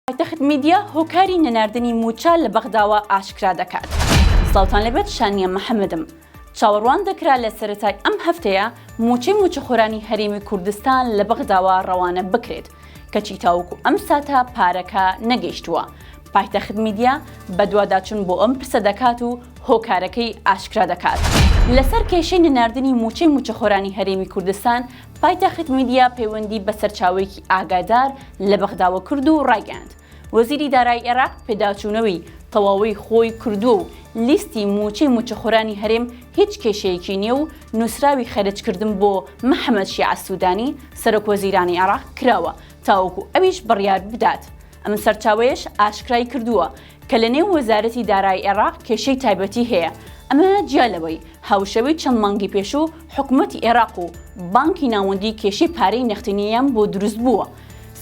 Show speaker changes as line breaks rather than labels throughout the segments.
پایتەخت میدیا، هۆکاری نەناردنی مووچە لە بەغداوە ئاشکرا دەکات. سڵاوتان لێبێت شانیە محەمەدم. چاوەڕوان دەکرا لە سەرەتای ئەم هەفتەیە مووچەی مووچەخۆرانی هەرێمی کوردستان لە بەغداوە ڕەوانە بکرێت، کەچی تاوەکو ئەم ساتە پارەکە نەگەیشتووە. پایتەخت میدیا بەدواداچوون بۆ ئەم پرسە دەکات و هۆکارەکەی ئاشکرا دەکات. لەسەر کێشەی نەناردنی مووچەی مووچەخۆرانی هەرێمی کوردستان پایتەخت میدیا پەیوەندی بە سەرچاوەیەکی ئاگادار لە بەغداوە کرد و ڕایگەیاند، وەزیری دارایی عێراق پێداچوونەوەی تەواوی خۆی کردووە و لیستی مووچەی مووچەخۆرانی هەرێم هیچ کێشەیەکی نییە و نووسراوی خەرجکردن بۆ محەمەد شیاع سوودانی، سەرۆکوەزیرانی عێراق کراوە تاوەکو ئەویش بڕیار بدات. ئەم سەرچاوەیەش ئاشکرای کردووە، کە لە نێو وەزارەتی دارایی ئێراق کێشەی تایبەتی هەیە، ئەمە جیا لەوەی هاوشێوەی چەند مانگی پێشوو حکومەتی ئێراق و بانکی ناوەندی کێشەی پارەی نەختینییان بۆ دروست بووە.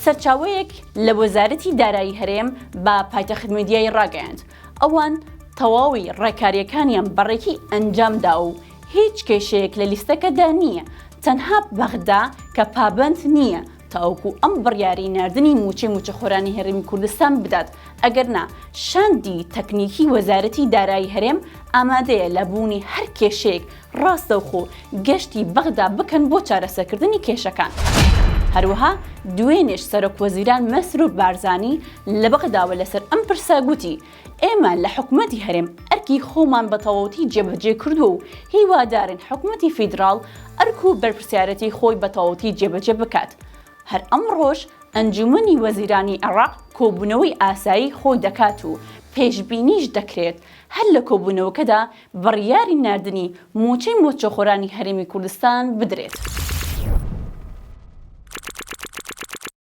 سەرچاوەیەک لە وەزارەتی دارایی هەرێم بە پایتەخت میدیای ڕاگەیاند، ئەوان تەواوی ڕێکارییەکانیان بە ڕێکی ئەنجام داوە و هیچ کێشەیەک لە لیستەکەدا نییە، تەنها بەغدا کە پابەند نییە تاوەکو ئەم بڕیاری ناردنی مووچەی مووچەخۆرانی هەرێمی کوردستان بدات، ئەگەرنا شاندی تەکنیکی وەزارەتی دارایی هەرێم ئامادەیە لە بوونی هەر کێشەیەک ڕاستەوخۆ گەشتی بەغدا بکەن بۆ چارەسەکردنی کێشەکان. هەروەها دوێنێش سەرۆکوەزیران مەسرور بارزانی لە بەغداوە لەسەر ئەم پرسە گوتی، ئێمە لە حکومەتی هەرێم ئەرکی خۆمان بە تەواوەتی جێبەجێ کردووە و هیوادارین حکومەتی فیدراڵ ئەرک و بەرپرسیارێتی خۆی بە تەواوەتی جێبەجێ بکات. هەر ئەمڕۆش ئەنجوومەنی وەزیرانی عێراق کۆبوونەوەی ئاسایی خۆی دەکات و پێشبینیش دەکرێت هەر لە کۆبوونەوەکەدا بڕیاری ناردنی مووچەی مووچەخۆرانی هەرێمی کوردستان بدرێت.